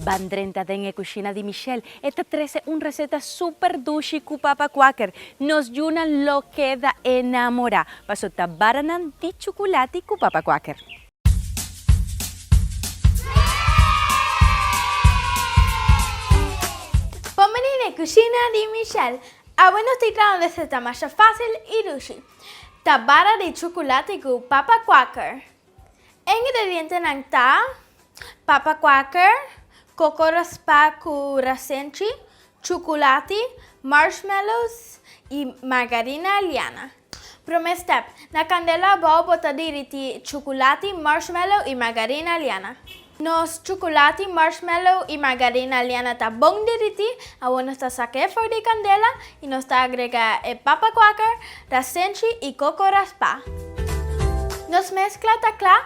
Ban drenta den e kushina di Michelle, e ta trese un reseta super dushi ku papa kuaker. Nos yunan lo keda enamorá paso ta baranan di chukulati ku papa kuaker. Bon bini n'e kushina di Michelle! Awe nos tin traha un reseta masha fásil i dushi. Ta bara di chocolate cu papa quaker. E ingredientenan ta, papa quaker, coco raspa cu rasenchi, chocolate, marshmallows y margarina liana. Prome step, Na candela abao bota diriti chocolate, marshmallow y margarina liana. Nos chukulati, marshmallow i margarina liana ta bon derití. Awor nos ta saka e for di e kandela i nos ta agrega e papa kwaker, rasenchi i koko raspá. Nos meskla ta kla.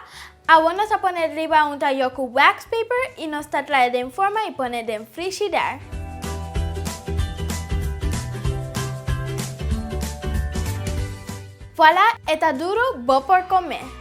Awor nos ta pone riba un tayó ku wax paper i nos ta trae den forma i pone den frishider. Vuala, e ta duru, bo por kome!